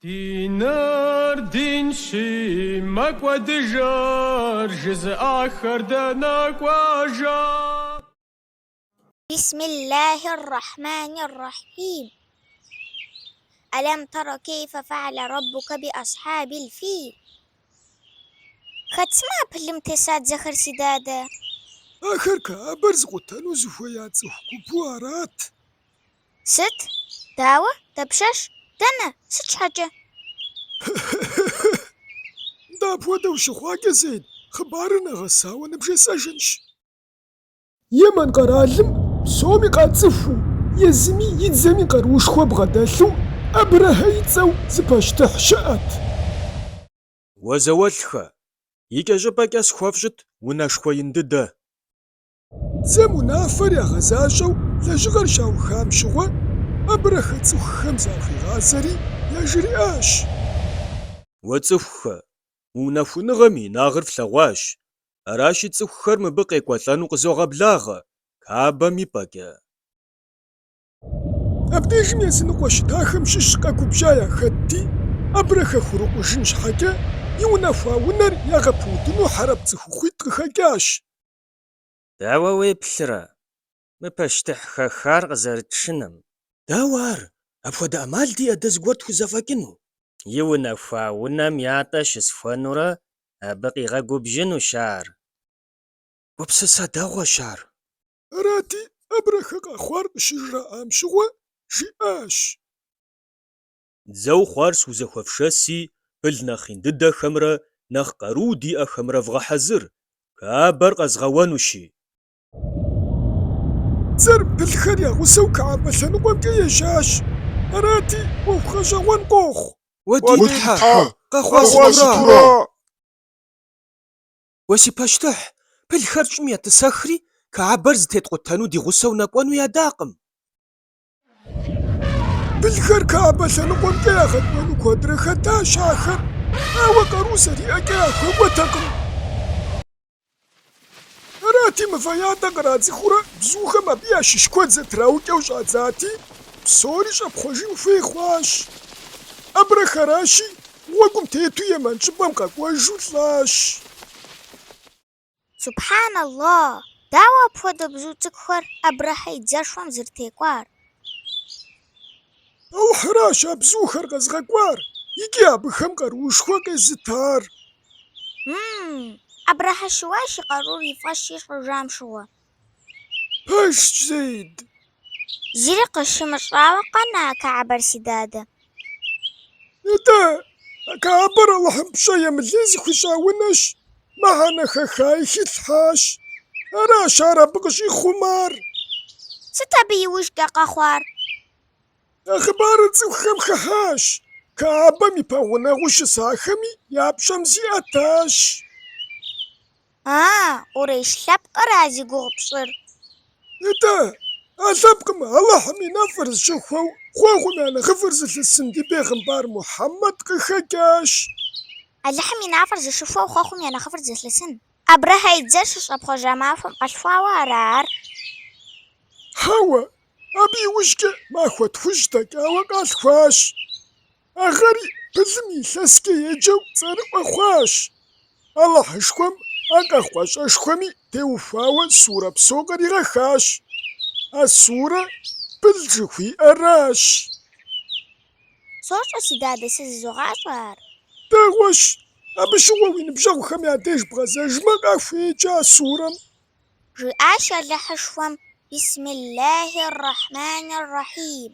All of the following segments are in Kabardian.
Ди нэр динщи, мэкӏуэдыжыр жызыӏахэр дэнэ кӏуэжа? Бисмиллахир рахманир рахим. Алам тара кейфэ фа'ала раббука би асхьабил фил. Хэт сымэ а пылым теса дзэхэр си дадэ? Ахэр Каабэр зыкъутэну зыхуея цӏыху гупу арат. Сыт? Дауэ? Дапщэщ? Дэнэ? Сыт щхьэкӏэ? Нтӏэ апхуэдэу щыхъуакӏэ, Зейд, хъыбарыр нэгъэсауэ ныбжесӏэжынщ. Емэн къэралым псоми къацӏыхуу, езыми и дзэми къаруушхуэ бгъэдэлъу Абрэхьэ и цӏэу зы пащтыхь щыӏэт. Уэ зауэлӏхэ, икӏэщӏыпӏэкӏэ схуэфщӏыт унэшхуэ ин дыдэ. Дзэм унафэр ягъэзащӏэу лэжьыгъэр щаухам щыгъуэ, Абрэхьэ цӏыхухэм захуигъазэри яжриӏащ. Уэ цӏыхухэ, мы унэхуныгъэм и инагъыр флъэгъуащ, аращи цӏыхухэр мыбы къекӏуэлӏэну къызогъэблагъэ Каабэм и пӏэкӏэ. Абдежым языныкъуэ щытахэм щыщ къэгубжьа яхэтти, Абрэхьэ хурикъужын щхьэкӏэ, иунэхуа унэр ягъэпыудыну хьэрэп цӏыхухъуитӏ къыхэкӏащ. Дауэ уеплърэ мы пащтыхь хэхар къызэрытшыным? Дауэ ар? Апхуэдэ ӏэмал диӏэ дэ зыгуэр тхузэфӏэкӏыну? Иунэхуа унэм ятӏэ щысхуэнурэ абы къигъэгубжьынущ ар. Гупсысэ дэгъуэщ ар. Арати, Абрэхьэ къэхъуар къыщыжраӏам щыгъуэ жиӏащ. дзэу хъуар схузэхуэфшэси, пыл нэхъ ин дыдэхэмрэ нэхъ къаруу диӏэхэмрэ вгъэхьэзыр, Каабэр къэзгъэуэнущи. Дзэр пылхэр я гъусэу Каабэ лъэныкъуэмкӏэ ежьащ, арати, ӏуэху гъэщӏэгъуэн къохъу. Уэ ди Тхьэ, къэхъуа сытура? Уэ си пащтыхь, пылхэр щӏым етӏысэхри, Каабэр зытеткъутэну ди гъусэу нэкӏуэну ядакъым. Пылхэр Каабэ лъэныкъуэмкӏэ ягъэкӏуэну куэдрэ хэтащ ахэр, ауэ къару зэриӏэкӏэ яхуэкӏуэтэкъым. Арати, мывэ ятӏэ кърадзыхыурэ бзухэм абы ящыщ куэд зэтраукӏэу щӏадзати, псори щӏэпхъуэжын хуей хъуащ. Абрэхьэращи гъуэгум тету Емэн щӏыпӏэм къэкӏуэжу лӏащ. Субхьэналла! Дауэ апхуэдэ бзу цӏыкӏухэр Абрэхьэ и дзэшхуэм зэрытекӏуар? Алыхьыращ а бзухэр къэзыгъэкӏуар икӏи абыхэм къарушхуэ къезытар. Мм, Абрэхьэ щыуащ и къарур и фӏэщ ищӏыжам щыгъуэ. Пэжщ, Зейд. Зыри къыщымыщӏауэ къэна Каабэр, си дадэ? Нтӏэ, а Каабэр Алыхьым пщӏэ емылей зыхуищӏа унэщ, мыхьэнэ хэхаи хилъхьащ. Аращ ар абы къыщӏихъумар. Сыт абы и ужкӏэ къэхъуар? А хъыбарыр цӏыхухэм хыхьащ, Каабэм и пэгъунэгъуу щысахэми я пщӏэм зиӏэтащ. А, къурейш лъэпкъра зи гугъу пщӏыр? Итӏэ, а лъэпкъым Алыхьым и нэфӏыр зыщыхуэу Хъуэхъум я нэхъыфӏыр зылъысын ди бегъымбар Мухьэммэд къыхэкӏащ. Алыхьым и нэфӏыр зыщыхуэу Хъуэхъум я нэхъыфӏыр зылъысын? Абрэхьэ и дзэр щыщӏэпхъуэжа махуэм къалъхуауэ ара ар? Хьэуэ, абы иужькӏэ махуэ тхущӏ дэкӏауэ къалъхуащ. А гъэри пылым и илъэскӏэ еджэу цӏэрыӏуэ хъуащ. Алыхьышхуэм а къэхъуа щӏэщхъуми теухуауэ сурэ псо къыригъэхащ. А сурэ пыл жыхуиӏэращ. Сощӏэ, си дадэ, сэ зызогъащӏэ ар. Дэгъуэщ. Абы щыгъуэ уи ныбжьэгъухэм я деж бгъэзэжмэ, къахуеджэ а сурэм. Жиӏащ Алыхьышхуэм, Бисмиллахи р-Рахьмани р-Рахьим.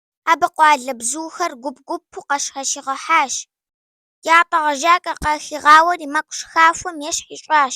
Абы къуалэбзухэр гуп-гупу къащхьэщигъэхьащ. Ятӏэ гъэжьакӏэ къахигъауэри, мэкъу шхафэм ещхь ищӏащ.